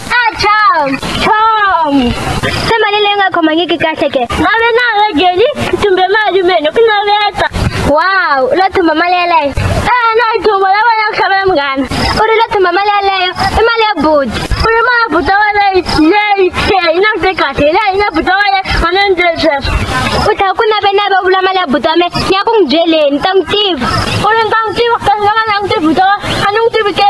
a chom chom se mali leyi nga khomangiki kahle ke na ve na ve geni tumbe mali mene ku naveta wow u lo thumba mali yeleyo e na yi thumba la vona ku xavela munghana u ri lo thumba mali yeleyo i mali ya budi u ri mali ya buta wa leyi leyi ke yi na vute kahle hi leyi yi na buta wa leyi a na ndzi sweswo u ta ku nave nave u vula mali ya buta wa me ni ya ku n'wi byeleni ta n'wi tiva u ri ni ta n'wi tiva kasi lava na n'wi tivi buta wa a ni n'wi tivi ke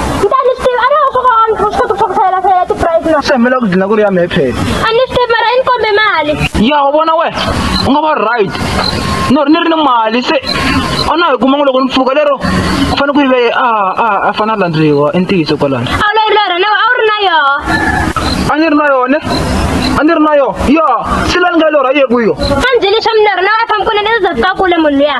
ni ta ni swi tivi a ni hoxo ka wani swi kota ku ku sayela sayela ti-price na se mela ku dlina ku ri ya mephet a ni swi tivi mara i ni kombe mali ya wa vona we u nga va right no ri ni ri ni mali se a na hi kuma ngo loko ni pfuka lero ku fanele ku yiveye a a a fanele a landzeriwa i ntiyiso kwalani a wu lori lori nawe a wu ri na yoho a ni ri na yone a ni ri na yona ya se la ni nga lorha yeku yo a ni byeli swa milorho nawe a fambi kule ni zazakakule munhu luya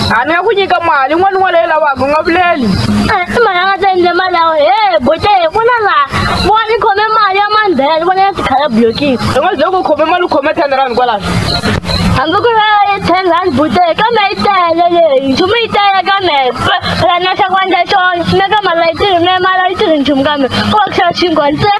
a ni nga ku nyika mali n'wana n'wana leyi lavaka u nga vuleli i mali a nga ta endle mali yawe he bote vona laha vona ni khome mali ya mandhela ni vona ya tikhala blokini i nga ze ku khome mali u khome ten rand kwalaho hambi ku va yi ten rand bote kambe yi tele leyi nchumu yi tele kambe phela na xa ku endla xona swi meka mali a yi tirhi me mali a yi tirhi nchumu kambe ku va ku xava xinkwa ntsena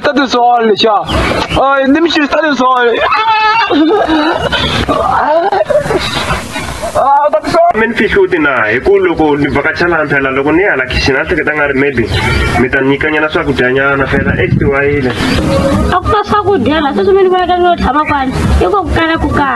stati soli, ciao. Oh, i nemici stati soli. mi ni fihli u ti na hi ku loko ni vakacha laha phela loko ni ya la khixini a hleketa nga ri maybe mi ta nyikanyana swakudyanyana phela extiwayile a ku na swakudya la sweswi mi ni vonaka ni yo tshama kwani i ko ku kala ku kala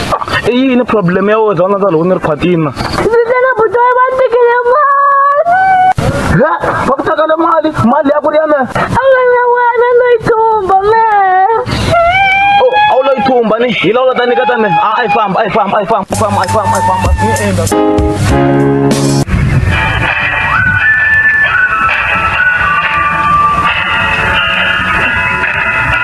i yini problem ya wena zona zalo ni ri phatina ndzi butoyi va tekele mali ya va ku tekele mali mali ya ku ri ya me a nga na wena no yi thumba me a wu lo yi thumba ni hi lawula ta nyika ta me a yi famba a yi famba a yi famba famba a yi famba a yi famba ni endla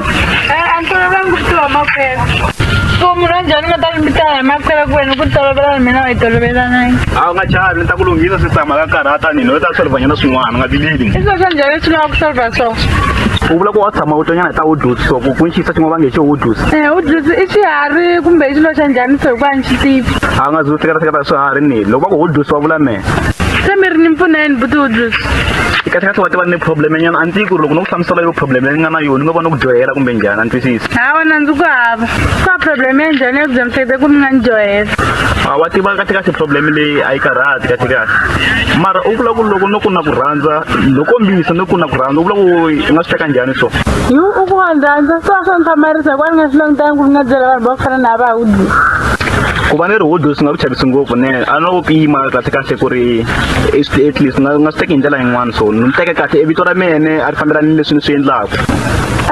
Eh, a ni tolovelanga ku tiva makhwela ku munhu wa njhani u nga ta lumbita hi makhwela ku wena ku tolovelana mina wa yi tolovelanangi a wu nga chavi ni ta ku lunghisa swi tshama ka karhata ni no ta solivanyana swin'wana nga vileli i swilo swa njhani leswi lava ku solva swona u vula ku wa tshama u tonyana hi ta wodusi so ku ku ni xiyisa xin'wana va nge xo wodusi Eh, u dlisi i xiharhi kumbe i xilo xa njhani so hikuva ni xi tivi a wu nga zi u seketaseketa swiharhi ni loko va ku wodusi wa vula me se mi ri ni mpfuna yini butubutus kahlekahle wa tiva ni problem nyana a ndzi ku ri loko no ku hlamusela yo problem leyi nga na yona ni nga va ni ku dyohela kumbe njhani a ni twisisi hawa na ndzi ku hava ka problem ya njhani ya ku byamisete ku mi nga ni dyohela a wa tiva kahlekahle problem leyi a yi karhati kahlekahle mara u vula ku loko no ku na ku rhandza loko mbisa no ku na ku rhandza u vula ku i nga swi teka njhani so yu u ku wa ndzi rhandza so a swa ni hlamarisa hikuva ni nga swi langutangi ku ni nga byela vanhu va ku fana na va hudi ku va ni rihudo swi nga ku chavisi ngopfu ne a no pima kahle kahle ku ri at least nga nga swi teki hi ndlela yin'wana so ni teke kahle i vito ra mene a ri fambelani leswi ni swi endlaka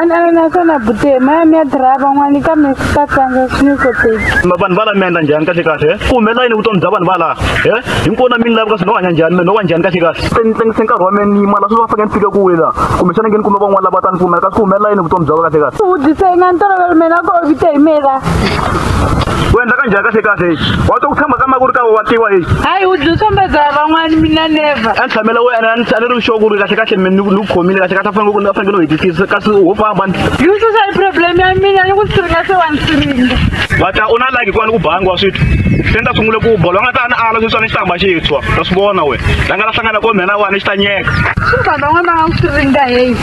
anana naswona bute maya mi ya diraya van'wani kambe swi ta tlanga swi ni koteki vanhu va la mi endla njhani kahle kahle ku humelela yini vutomi bya vanhu va laha e hinkwona mi ni lavi kasi no hanya njhani mi no wa njhani kahle kahle se ni tlangise nkarhi wa mina ni yima la swi va fanele ni fike ku wela kumbexana nge ni kume van'wana lava ta ni pfumela kasi ku humelela yini vutomi bya va kahle kahle u vutisa yi nga ni tolovela mina ko vite hi mina wena kanjhani kahle kahle hi wa to ku tshamba ka makuri ka wa tiwa hi hayi u dzi tshamba za van'wani mina never a ni tshamela wena a ni a ni ri xo ku ri kahle kahle mi ni ku khomile kahle kahle a fanele ku a fanekele u hetisisa kasi ho famba ni yi susa hi problem ya mina ni ku siringa se wa ni siringa va ta u na laki kwani ku bangi wa swithu se ni ta sungule ku bolo nga ta ni ala sweswa ni xitamba xintshwa ta swi vona wena la nga la hlangana ko mhena wani xi ta nyeka swi van'wani va nga ku siringa heyi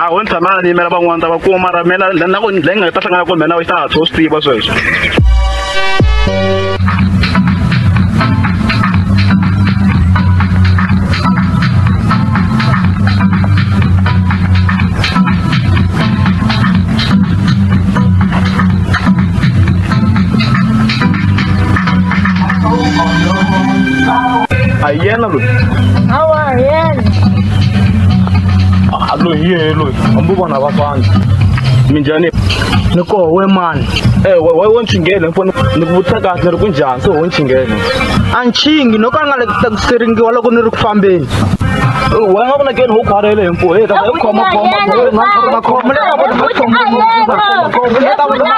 a ho ni tshamela ni yimela van'wana ta va kuma mara mina na ku leyi nga ta hlangana ku mina yi ta hatla u swi tiva sweswo aloyiyelo hambi vona va fana minjhani ni koho we mani e wa wo nchingele mfoni ni ku vutisa kahle ni ri ku njhani se ho nchingele a nchingi no ka nga le ku takuseringiwa loko ni ri ku fambeni wa nga vona keni ho khwarele hi mpo he ta hi khoma khoma khoma khoma le ka vona khoma khoma khoma le ka vona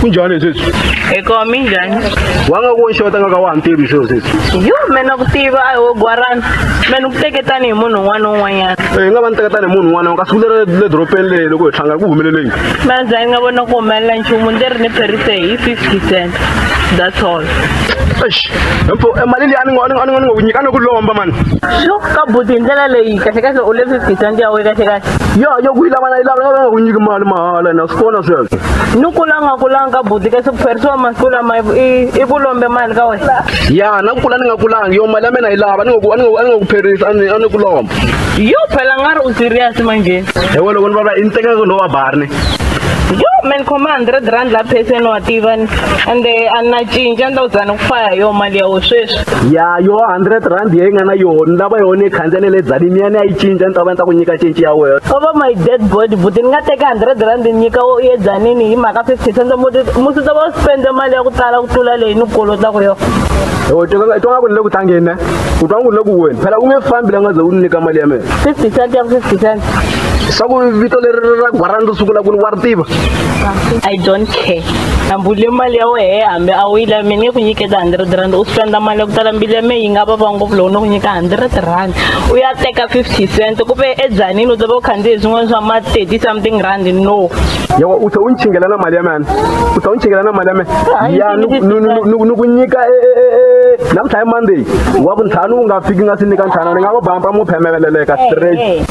kunjhani sweswi hi koho minjhani wa nga ku xota nga ka wa ha ni tivi sweswo sweswi yo me na ku tiva a hi wo gwarana me ni ku teketani hi munhu un'wana na un'wanyana hi eh, nga va ni teketani hi munhu un'wana ka siku leri le doropeni leyi loko hi hlangana ku humelele yini mandzhani nga vona ku humelela nchumu ndzi ri ni pherise hi fifty cent that's all Eish, mpo eh, mali leyi a ni ngo- a ni ngo- a ni ngo- ni ngo ku nyika a ni ku lomba mani sho ka buti hi ndlela leyi kahlekahle u le fifty cent ya we kahlekahle ya ya ku yi lava na yi lava nga ku nyiki mali mahala na swi vona sweswo ni kula nga kulanga ka buti kasi ku pherisiwa masiku lama i- i- i ku lombe mali ka wena ya na ku kula ni nga kulanga yo mali ya mina yi lava a ni ngo ku- a ni ngo- a ni ngo ku pherisa a ni a ni ku lomba yo phela nga ri u serious manjheni ewe loko ni vava i ni tekaka lowa barni yo man khoma hundred rand la pheseni wa tiva ni ende a ni na cinca ni ta ku dzana ku faya hi yoho mali ya wo sweswi ya yo hundred rand yeyi nga na yoho ni lava yoho ni yi khandzele le dzanini ya ni ya yi cinca ni ta va ni ta ku nyika cinci ya wena over my dead body buti ni nga teka hundred rand ni nyika wo ye dzanini hi mhaka fifty cents muti musi ta va u spende mali ya ku tala ku tlula leyi ni ku kolotaka yoho u twa nga ku ni le ku tlangeni ne u twa nga ku ni le ku weni phela u nge fambi la nga ze u ni nyika mali ya mina fifty cent ya ku fifty cent swa ku vito leri ra gwara ndo sungula ku ni wa ri tiva i don't care hambi u le mali ya wehe hambi a wu yi lavi mina nge ku nyiketa hundred rand u spenda mali ya ku tala mbili ya me yi nga vava ngopfu loko no ku nyika hundred rand u ya teka fifty cent ku ve edzanini u ta va u khandziye swin'wana swa ma thirty something rand no yawa u tlhe u ni chingela na mali ya mena u tlhe u ni chingela na mali ya mena ya ni- ni- ni- ni- ni ku nyika e- e- e- e- namuntlha hi monday wa ku ntlhanu u nga fiki nga si nyika ntlhanu ni nga va bampa mu phemeleleka straight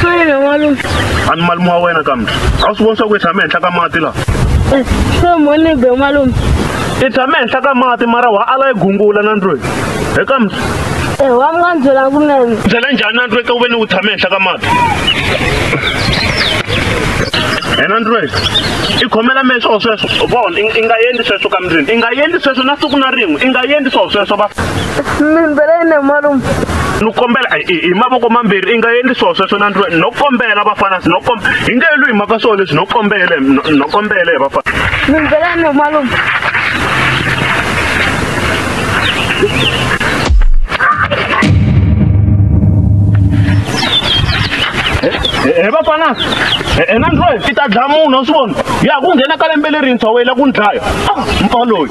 Swele n'walungu. A ni malume wa wena kambe. A wu swi voni swa ku i tshame henhla ka mati laha? Eh, se mhoni be n'walungu. I tshame henhla ka mati mara wa ala yi gungula na ndlwini. He kambe. Eh, wa mi nga ni byela kunene. Byela njhani na ndlwini ka ku ve ni u tshame henhla ka mati? Yena ndlwini. I khomela mehe swo sweswo. U vona, i nga endli sweswo ka mundlwini. I nga endli sweswo na siku na rin'we. I nga endli swo sweswo va. Mi ni byela yini n'walungu? ni kombela hi mavoko mambirhi i nga endli swona sweswo na ndlwani no kombela vafana no kombela hi nge lwi hi mhaka swona leswi no kombele no kombele hi vafana mindzwelani malume he vafana ena ndlwani ti ta dlaya munhu a swi vona ya ku nghena ka lembe lerintshwa wela ku ni dlaya ah, mpa loyi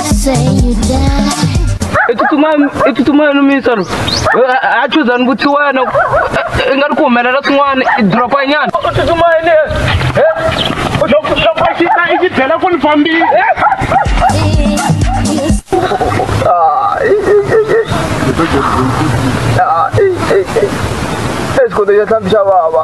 i tsutsumani no misa lo a chuzani vuthi wena i nga ri ku humelela swin'wana i dropa nyana u tsutsumani i xi byela ku ni fambile esikoto ya tlhambi xa vava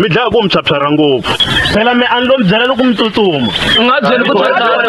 mi dlaya ku mi phyaphyarha ngopfu phela mi a ni lo mi byela loko mi tsutsuma u nga byeli ku tsutsuma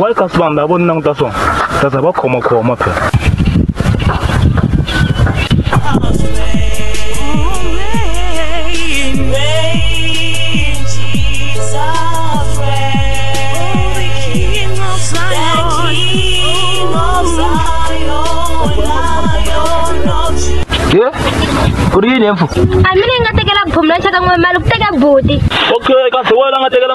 why ka swi vanhu lava vo ni languta swona ta za va khomakhoma phela Kuri yini emfu? Amina ingatekela bhumla chaka ngwe malu kuteka bhuti. Okay, kasi wena ngatekela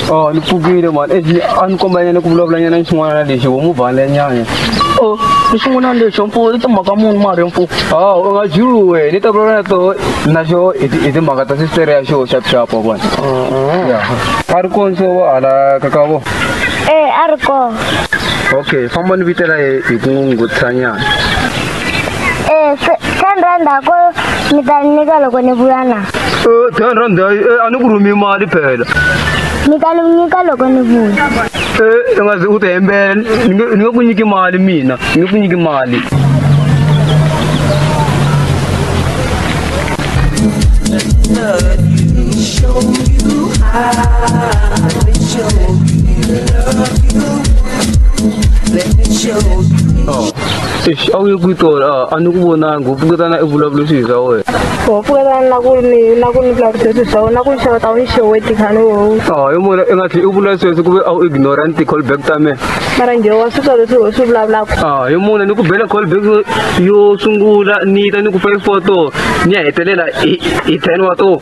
Oh, ni pfukile mani eji a ni kombanyele ku vulavula nyana ni xin'wana na lexi wo muvhale nyana o ni xin'wana lexo mfuwo i timhaka muni mari mfuwo a u nga juluwe ni ta vulavula na toho na xo hi ti- hi timhaka ta sistere ya xo xapuxapu wa vona a ri konso wa hala ka ka vo ee a ri kona okay famba ni vitela ye hi ku n'wi nguthisanyana ee ten rand ako mi ta ni nyika loko ni vuya na Eh, ten rand hayi eh, a ni ku rhumi mali phela ni ta nyika loko ni vuya Eh, i nga zi u ti hembela ni nge- ni nge ku nyiki mali mina ni nge ku nyiki mali Eish, a wu ye kwi tona a- a ni ku vonangi u pfuketana i vulavula swilo swa wena ho pfuketana na ku ni na ku ni vulavutisa swilo swa wena na ku ni xeweta a wu ni xeweti khani wowu a hi mona i nga tlhe i vula sweswo ku ve a wu ignorant ti-call back ta mina mara njhe wa swi twa leswi ho swi vulavulaka a hi mona ni ku bela call back yo- yo sungula ni ta ni ku five four to ni ya hetelela hi hi ten wa to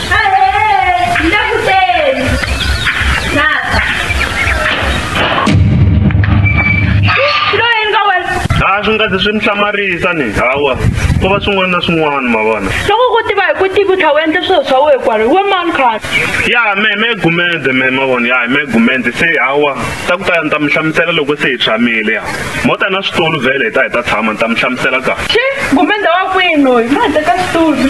a swi nga zi swi ni hlamarisa ni hawa ku va swin'wana na swin'wana ma vona loko ku tiva hi ku tivi tlha u endle swilo swa wena kwalo we mani khani ya me me gumende me ma vona ya me gumende se hawa ta ku ta ya ni ta mi hlamusela loko se hi tshamile ya mo ta na switulu vhele hi ta hi ta tshama ni ta mi hlamusela kahle xi gumende wa kwini loyi ma hi teka switulu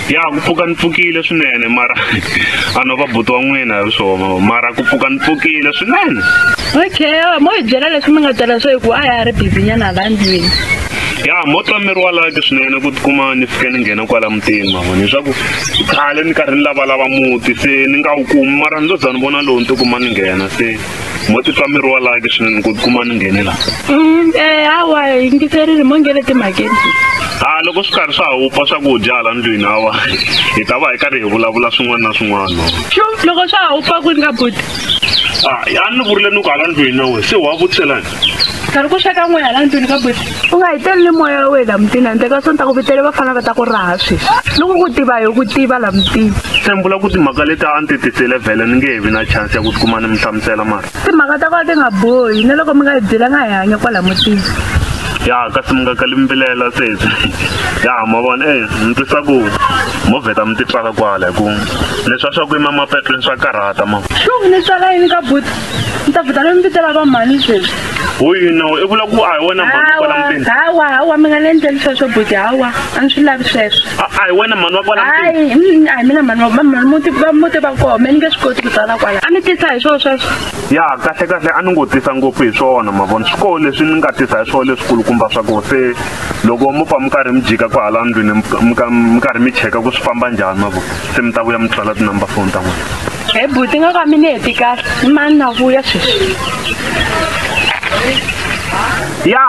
ya ku pfuka ni pfukile swinene mara a no va buti wa n'wina hi swona mara ku pfuka ni pfukile swinene okay yawa mo hi byela leswi mi nga tala swo hikuva a ya ri bizinyana la ndlwini ya mo twa miri wa laki swinene ku tikuma ni fike ni nghena kwala mutini mavona leswaku khale ni karhi ni lavalava muti se ni nga wu kumi mara ni lo za ni vona lowu ni tikuma ni nghena se mo titwa miri wa laki swinene ku tikuma ni nghene la mm, eh, hawa yingiserile mo nghene timhakeni a ah, loko swi karhi swa ha wupfa swakudya hala ndlwini hawa hi ta va hi karhi hi vulavula swin'wana na swin'wana xo loko swa ha wupfa ku ni ka buti a ah, ni vurile ni ku hala ndlwini na wena se wa vutiselani karhi ku xeka n'we hala ndlwini ka buti u nga hi teli ni moya wa wena mutini handle ka swona ta ku vitele vafana va ta ku raha sweswi loko ku tiva hi ku tiva la mutini tshembula ku timhaka leti a ni ti tisele vhele ni nge he vi na chance ya ku tikuma ni mi hlamusela mara timhaka ta kona ti nga bohi na loko mi nga hi byela nga hi hanya kwala mutini ya kasi mi nga kali mbilela sweswi ya ma vona e ni twisa ku mo vheta mi titswala kwala hi ku leswi a swa ku yima mapetlweni swa karhata ma xungu ni tswala yini ka buti ni ta vita loyi mi vitela va mhani sweswi ho yino i vula ku a hi wena mhani wa kwala mutini hawa hawa mi nga ni endleli sweswo buti hawa a ni swi lavi sweswo a a hi wena mhani wa kwala mutini hayi mm, a hi mina mhani wa va mhani muti va muti va koho me ni nge swi koti ku tsala kwala a ni tisa hi swona sweswo ya kahle kahle a ni ngo tisa ngopfu hi swona ma vona swi koho leswi ni nga tisa hi swona leswikulukumba swa koho se loko mo pfa mi karhi mi jika ku hala ndlwini mi ka- mi ka- mi karhi mi cheka ku swi famba njhani ma vona se mi ta vuya mi tsala tinumber phone ta n'wina e buti nga ka mina heti kahle i mani na vuya sweswi ya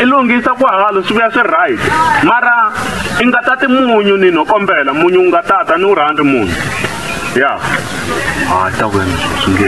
i lunghisa ku halo swi vuya swi right mara i nga tati munyu ni no kombela munyu u nga tata ni u rhandzi munyu ya a ta wena swi nge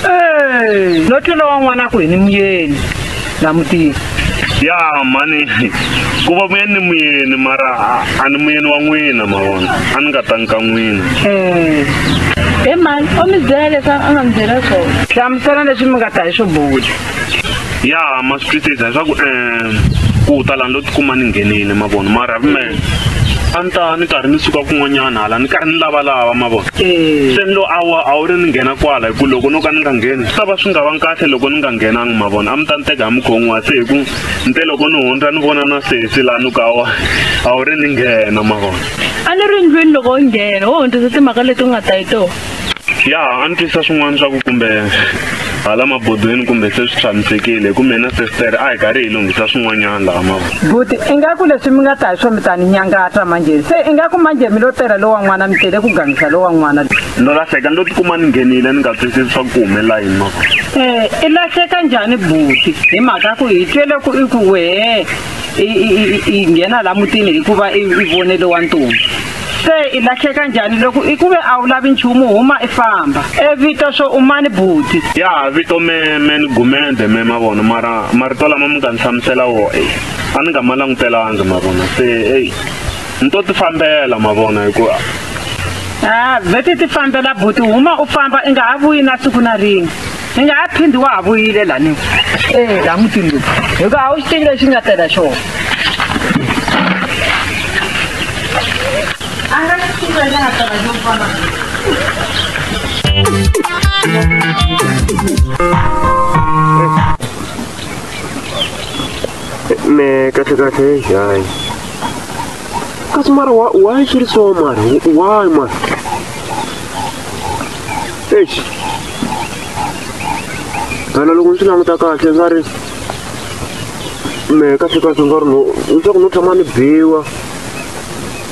Hey, no tlula wa n'wana ku hi ni muyeni na mutini ya mhani ku va muyeni ni muyeni mara a- a ni muyeni wa n'wina ma vona a ni nga tangi ka n'wina Eh, he mhani o mi byela leswi a nga mi byela swona hlamusela leswi mi nga ta hi swo bula ya ma swi twisisa leswaku um ku ta lani lo tikuma ni nghenile mavona mara ya vumele a ni ta ni karhi ni suka kun'wanyana hala ni karhi ni lavalava mavona eh. se ni lo awa a wu ri ni nghena kwala hi ku loko no ka ni nga ngheni swi ta va swi nga va kahle loko ni nga nghenangi mavona a mi ta ni teka hi mukhon'wa se hi ku ni te loko ni hundza ni vona na sesi laha ni ku awa a wu ri ni nghena mavona a ni ri ndlwini loko u nghena wo hundzisa timhaka leti u nga ta hi tona ya a ni twisa swin'wana swa ku kumbe hala mabodweni kumbe se swi tshamisekile hi ku mina sestere a hi karhi hi lunghisa swin'wanyana laha mavona buti ingaku leswi mi nga ta hi swo mi ta ni nyangata manjhe se ingaku manjhe mi lo tela lowa n'wana mi tele ku gangisa lowa n'wana no lahleka ni lo tikuma ni nghenile ni nga twisisi swa ku ku humelela yini mavona um i lahleka njhani buti hi mhaka ku hi twele ku i ku wehe i nghena laha mutini hikuva i vonele wa ntombi se i lahleka njhani loko i ku ve a wu lavi nchumu huma i famba e vito swo umani buti ya vito me me ni gumende me ma vona mara marito lama mi nga ni hlamusela wo e a ni nga ma langutelanga ma vona se eyi ni to ti fambela ma vona hikuva a vheti ti fambela buti huma u famba i nga ha vuyi na siku na rin'we ni nga ha phindi wa ha vuyile lani e laha mutini lowu hikuva a wu xi tivi lexi nga tela xona a nga xi tivi lexi nga tela xo fana me kahle kahle hayi kasi mara wa wa xirisiwa mara wa mara eish phela loko ni swi languta kahle nga ri mehe kahlekahle nga ri no leswaku no tshama ni biwa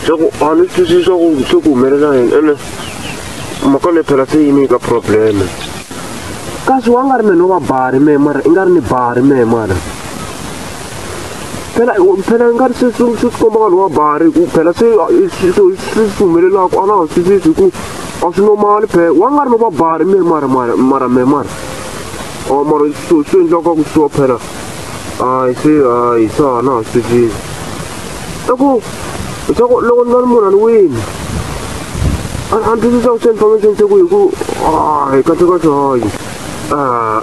swaku a ni twisisi swaku se ku humelela yini ene mhaka leyi phela se yi ni nyika probleme kasi wa nga ri mehe no va bari mehe mara i nga ri ni bari mehe mara phela phela ni nga ri se swi swi komba vanhu va bari ku phela se swi swi humelelaka a na ha swi sisi ku a swi normali phela wa nga ri no va bari mi ri mara mara mara me mara or mara swi swi endlaka ku swi wa phela hayi se hayi se a na ha swi sisi i ku leswaku loko ni va ni munhu a ni wini a ni twisisa ku se information se ku hi ku hayi kahle kahle hayi a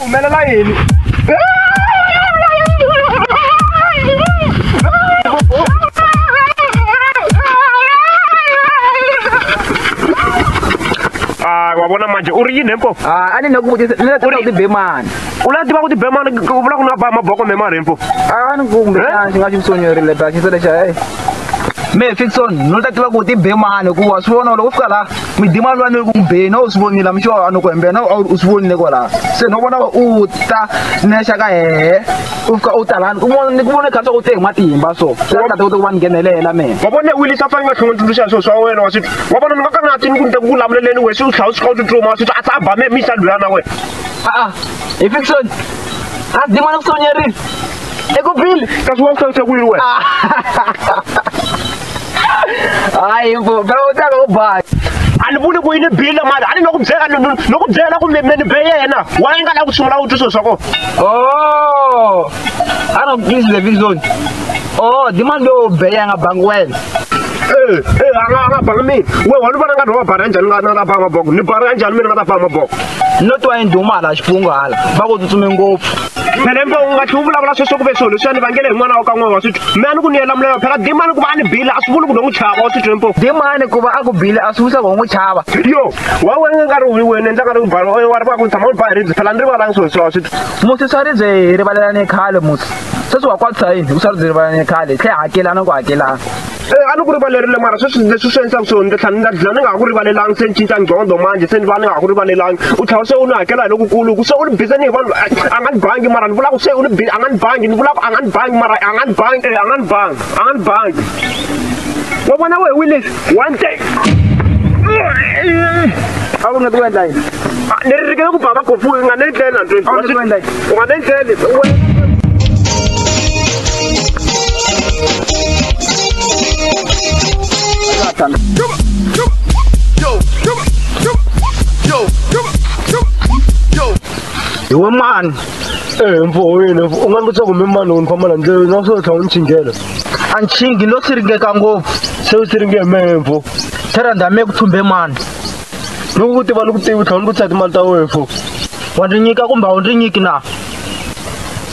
humelela yini Ah, wa vona manje u ri yini hempo Ah, a ni na ku vutisa ni la ta Uri- ku tibe mani u la tiva ku tibemana u vula ku na ba maboko memari hempo a ni kumbe Eh? xana xi nga xi sonyerile ta xisa lexa e me fixon no ta tiva ku tibe mani hikuva swi vona loko u fika laha midima lwa ni ku mbeni a wu swi vonile mi xo a ni ku hembela na u swi vonile kwalaho se no vona u ta nexa ka hehe u fika u talani ni ku vone kha swa ku te hi matimba so ta ta ku va ni nghenelela mina wa vone wili sa fanele va tlhongontuluxa hi swilo swa wena wa swi wa vona ni va ka nga ti ni ku ni ta ku vulavuleleni wena swi u tlhawu swi kha u tsutsuma swi a tsaba me mi sa lula na wena a-a hi fiction a dima ni ku sonyerile eku bile kasi wa ku hlayisa ku yini wena hayi mfo phela utaka ubhayi andivuli ku yini bile mali ani no ku byela no no ku byela kumbe meni be yena wa nga la ku sungula u twisisa ko oh ana please the vision oh demand do be ya nga bangi wena eh eh anga anga banga mi we wa lubana nga no bara njani nga na banga boko ni bara njani mina nga ta banga boko no to ayindumala xipungu hala va ku tsutsume ngopfu na lembe u nga tlhela u vulavula sweswo ku ve swilo leswiya ni vangele hi n'wana wa ka n'wana wa swithu me a ni ku ni yela mulayo phela dimani ku va a ni bile a swi vuli ku no n'wi chava wa swithu lempo dimani ku va a ku bile a swi vuli swa ku ho n'wi chava yo wa wena nkarhi wi wena endla nkarhi wu bala wa ri va ku ni tshama u ni ba hi ribye phela ni rivalangi swilo leswiya wa swithu musi swa ribye hi rivalelane khale musi sweswi wa kwatisa yini u swa ribye rivalelane khale hi tlhe hakelana ku hakelana Eh, a ni ku rivalerile mara sweswi leswi swi endlaka swona ndzi tlhela ni nga dlina ni nga ha ku rivalelangi se ni cinca ngqondo manje se ni va ni nga ha ku rivalelangi u tlhela se u ni hakela hi lokukulu ku se u ni bize ni hi vanhu a nga ni bangi mara ni vula ku se u ni a nga ni bangi ni vula ku a nga ni bangi mara a nga ni bangi eh, a nga ni bangi a nga ni bangi wa vona wehe willis one day a wu nga ti ku endla yini ni ri rikele ku ba va kofu u nga ni endleli na ndlwini Awu, ni ku endla yini? u nga ni endleli hi wa mani ee mfo wena u nga ni vutisa kumbe mani u ni famba la ndlela na swo tlhava ni chinghela a nchingi no siringeka ngopfu se u siringe hi mehe mfo therandame ku thumbe mani loko ku tiva loko tivi tlhela ni vutisa timali ta wena fo wa ndzi nyika kumbe a wu ndzi nyiki na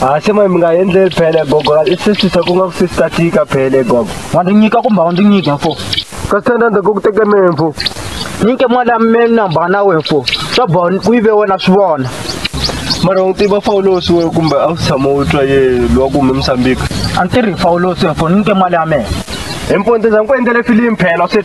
ha se mali mi nga endleli phele gogo i sisisa ku nga ku sisita tika phele gogo wa ndzi nyika kumbe a wu ndzi nyiki fo ka sithanda ndzi ku teke mina fo nyike mali ya mina namba na wena fo swa boha ku yive wena swi vona mara u tiva fawulosi we kumbe a wu tshama u twa ye lowa ku hume musambika a ni tirhi fawulosi fo nyike mali ya mina hi mpondzeza ni ku endlele filimi phela swi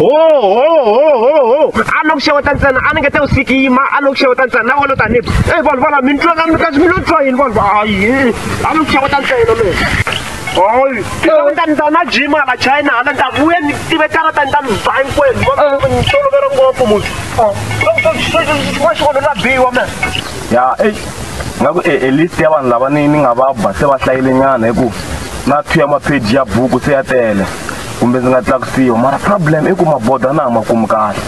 ohohohoho a na ku xeweta ntsena a ni nge te u sikima a ni ku xeweta ntsena na vona tanihi e vanhu vana mi twa ka mi kasi mi lo twa yini vanhu hayi a ni ku xeweta ntsena me hayi xeweta ni ta na jima hala china hala ni ta vuya ni tive karata ni ta mi ba hinkwenu ni tolovela ngopfu munhu wa xikolo ra biwa me ya e nga ku e list ya vanhu lava ni ni nga va ba se va hlayilenyana hi ku na two ya mapheji ya buku se ya tele kumbe ndzi nga tlakusiwa mara problem i ku mabodo a na ha ma kumi kahle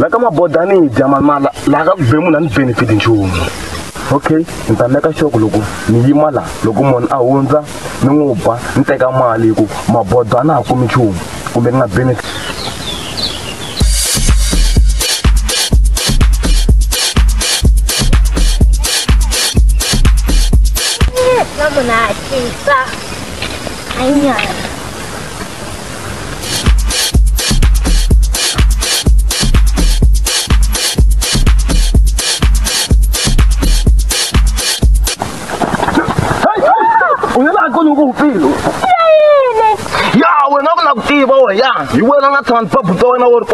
la ka mabodo a ni yi dya manala laha ka ku be munhu a ni benefit nchumu okay ni ta meka xoko loko ni yima laha loko munhu a hundza ni n'wi ba ni teka mali hikuva mabodo a na ha kumi nchumu kumbe ni nga benefit Vamos lá, gente. Tá. Aí, olha.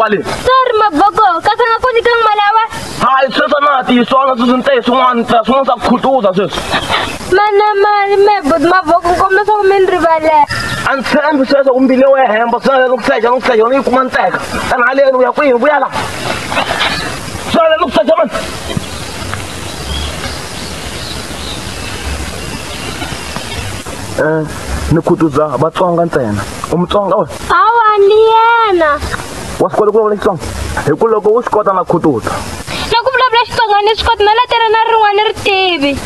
kwale sorry maboko ka sa nga ku nyikanga mali awa hayi sweswo na ha tiyiswanga sweswi ni te hi swin'wana swin'wana swa ku khutuza sweswi mana mali mebut mavoko nkombela leswaku mi ni rivalela a ndzi tshembi sweswo ku mbile wo ya hemba swi lava ku seja ni ku seja ni yi kuma nteka tana haleni u ya kwihi vuya la swi lava ni ku seja mani um ni khutuza vatsonga ntsena u mutsonga we hawa ni yena wa swi kota ku vulavula xitsonga hi ku loko u swi kota na khutuza na ku vulavula xitsonga ni swi kota na letela na rin'wana ri tivi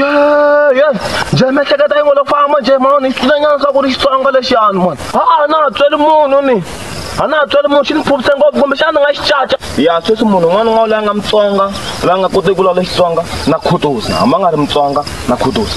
yo yo njhe miehleketo yi ngo lo famba njhe mhana ni swi nyana swa ku ri xitsonga lexiyani mani a a na ha tsweli munhu ni a na ha tsweli munhu xi ni phupise ngopfu kumbe xana ni nga xi caca ya sweswi munhu un'wana un'wana loyi a nga mutsonga loyi a nga koteki ku lawula xitsonga na khutuza hambi a nga ri mutsonga na khutuza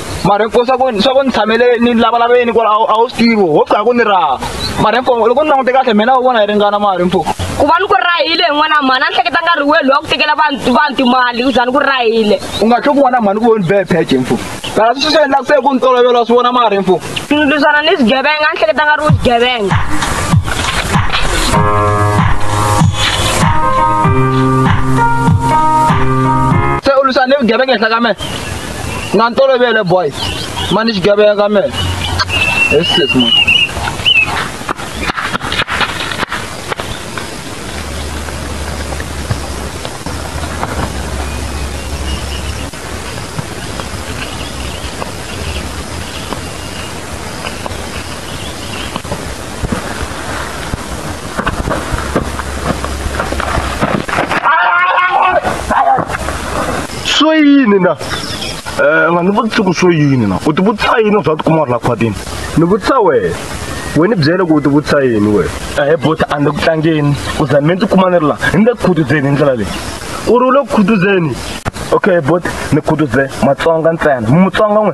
mara hinkwavo swa ku swa ku ni tshamele ni lavalaveni ku a a wu swi tivi ho pfuka ku ni raha mara hinkwavo loko ni langute kahle mina u vona hi ringana mara hinkwavo ku va ni ku rahile hi n'wana mhani a ni hleketa nga ri welu wa ku tekela vanhu vanhu timali ku za ni ku rahile u nga tlhe ku vona mhani ku voni bee pheje mfu mara swi swi endlaka se ku ni tolovela wa swi vona mara hinkwavo ni lwisana ni swigevenga a ni hleketa nga ri u swigevenga se u lwisana ni vugevenga henhla ka mina na ntolovele boys mani xigevenga me esis man swo yini na um nga ni vutisi ku swo yini na u ti vutisa yini u swa tikuma u ri la khwatini ni vutisa wena we ni byele ku u ti vutisa yini wena ehe bota a ni ku tlangeni u za mi ndzi kuma ni ri la ni le ku khutuzeni hi ndlela leyi u ri u le ku khutuzeni okay bota ni khutuze matsonga ntsena mutsonga n'we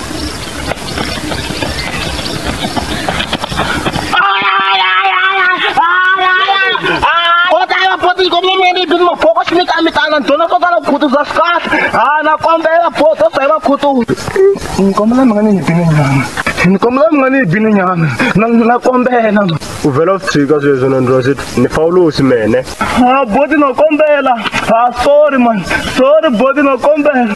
nikombela mi nga ni nyibini nyana nikombela mi nga ni nyibini nyana na kombela u vhela u tshika sweswo na ndira swi ni fawulosi mene a boti no kombela a sorry man sorry boti no kombela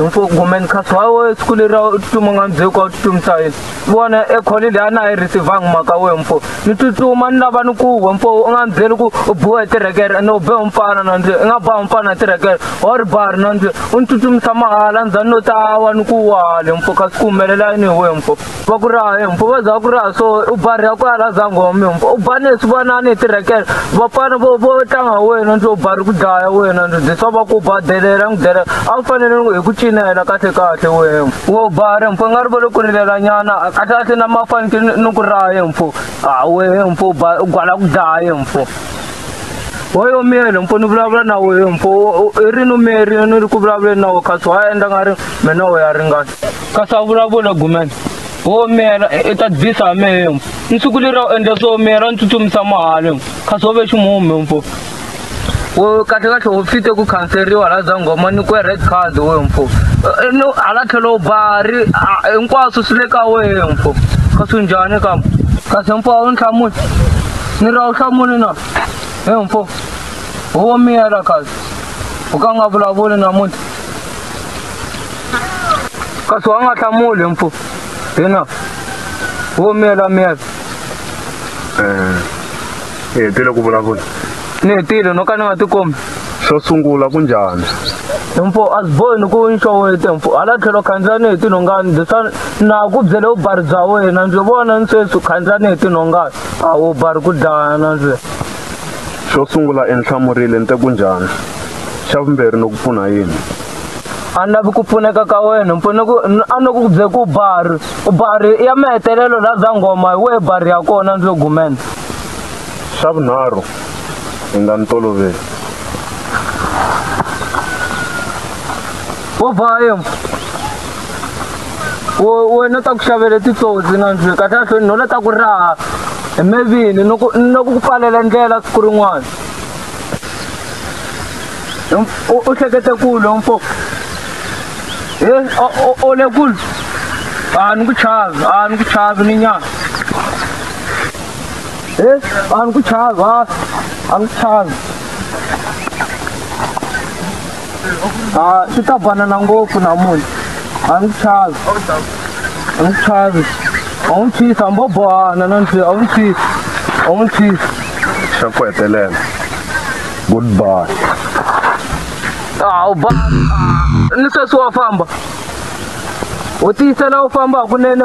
Mfo ngomeni kasi wawe siku leri a wu tsutsuma nga ndzheko a wu tsutsumisa yini vona ekholi leyi a na yi receivangi mhaka we mfo ni tsutsuma ni lava ni ku we mfo u nga ni byeli ku u biwa hi tirekere ene u be mfana na ndzi i nga ba mfana hi tirekere wa ri bari na ndzi u ni tsutsumisa mahala ndzhani no ta wa ni ku wale mfo kasi ku humelela yini hi we mfo va ku ri hayi mfo va za ku ri ha so u barha ku ala zangome mfo u bane swi vonani hi tirekele vapfana vo vo tlanga wena ndzi u bari ku dlaya wena ndzi dyisa va ku ba delela n'wi delela a wu fanele hi ku cinela kahle kahle wena wo bare mfo nga ri va lo ku rilela nyana kahle kahle na ma fanekele ni ku raye mfo a wehe mfo u gwala ku dlaye mfo hoyo miyele mfo ni vulavula na wehe mfo i ri ni miyeri ni ri ku vulavuleni na we kasi wa endla nga ri mina u ya ringana ka savula vula gumela wo miyela i ta bisa ha mehe mfo ni siku leri a wu endla swo miyela ni tsutsumisa mahale mfo kasi wo ve ximume mfo wo kahle kahle wo fite ku khanseriwa la zangoma ni ku red card we mfo no hala tlhelo bari hinkwaswo swi le ka wehe mfo kasi njhani ka kasi mfo a wu ni hlamuli ni ra wu hlamuli na he mfo wo miyela kasi u ka nga vulavuli namuntlha kasi wa nga hlamuli mpfu hina wo miyela miyela hi hetile ku vulavula ni hetile no ka ni nga tikombi xo sungula ku njhani mpfu a swi bohi ni ku nxowete mpfu hala tlhelo khandziya ni hi tinhongani leswa na ku byele vubari bya wena ndzi vona ni sweswi khandziya ni hi tinhongani a wu bari ku dlayana ndzi xo sungula enhlamurile ni te ku njhani xa vumbirhi ni ku pfuna yini a ni lavi ku pfuneka ka wena mpfune ku a ni ku bye ku bari u bari ya mahetelelo la za ngoma hi wehe bari ya kona ndzi lo gumena xa vunharhu hi nga ni toloveli wo vayo wena ta ku xavele titsotsi na ndzi kahle kahle ni nola ta ku raha hi mevini ni ku pfalela ndlela siku rin'wana u hleketa kulu lowu mfo e o le kulu a ni ku chavi a ni ku chavi ni nyana e a ni ku chavi a a ni ku chavi a swi ta banana ngopfu namuntlha a ni ku chavi a ni ku chavi a wu ni tshisa a ni bo bohana na ni tshisa a wu ni tshisa a wu ni tshisa xa ku hetelela goodbye awu ba ni sweswi wa famba u tiyisela u famba hakunene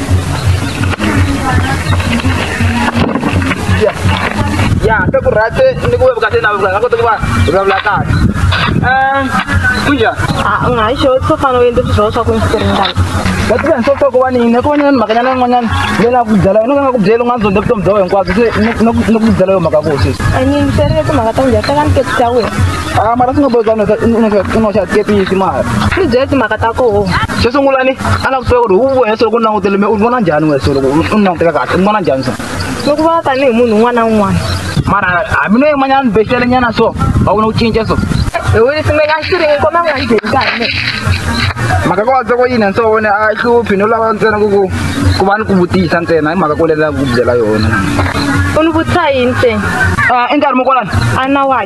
ya ya te ku rate ni ku webuka te na webuka ngako te ku va vulavula kahle um kunja Ah, nga hi xo swo fana u endle swilo swa ku ndzi ringana va tiva ni sosoko wa nini ku va ni na ni mhaka nyana yin'wanyana leyi na ku byela yona ka nga ku byeli u nga ndzondze vutomi bya wena hinkwabyo se ni ku byela yo mhaka ku sisi a ni ndzi ringe timhaka ta njhani teka ni tekisi ya wena a mara swi nga bohi kanu i noxa tepisi mara swi byele timhaka ta koho xo sungula ni a na kutuve ku ri wu vohe solo ku langutele me u vona njhani we solo u ni languteka kahle u vona njhani so loko va tanihi munhu un'wana na un'wana mara hamino yin'wanyana ni bexele nyana so va vona ku cinca so mhaka ko vatsoko yini nso wone a hluphi no lava ntsena ku ku ku va ni ku vutisa ntsena hi mhaka ko lelela ku byela yona u ni vutisa yini ntsena i nkarhi mo kwalani a na wa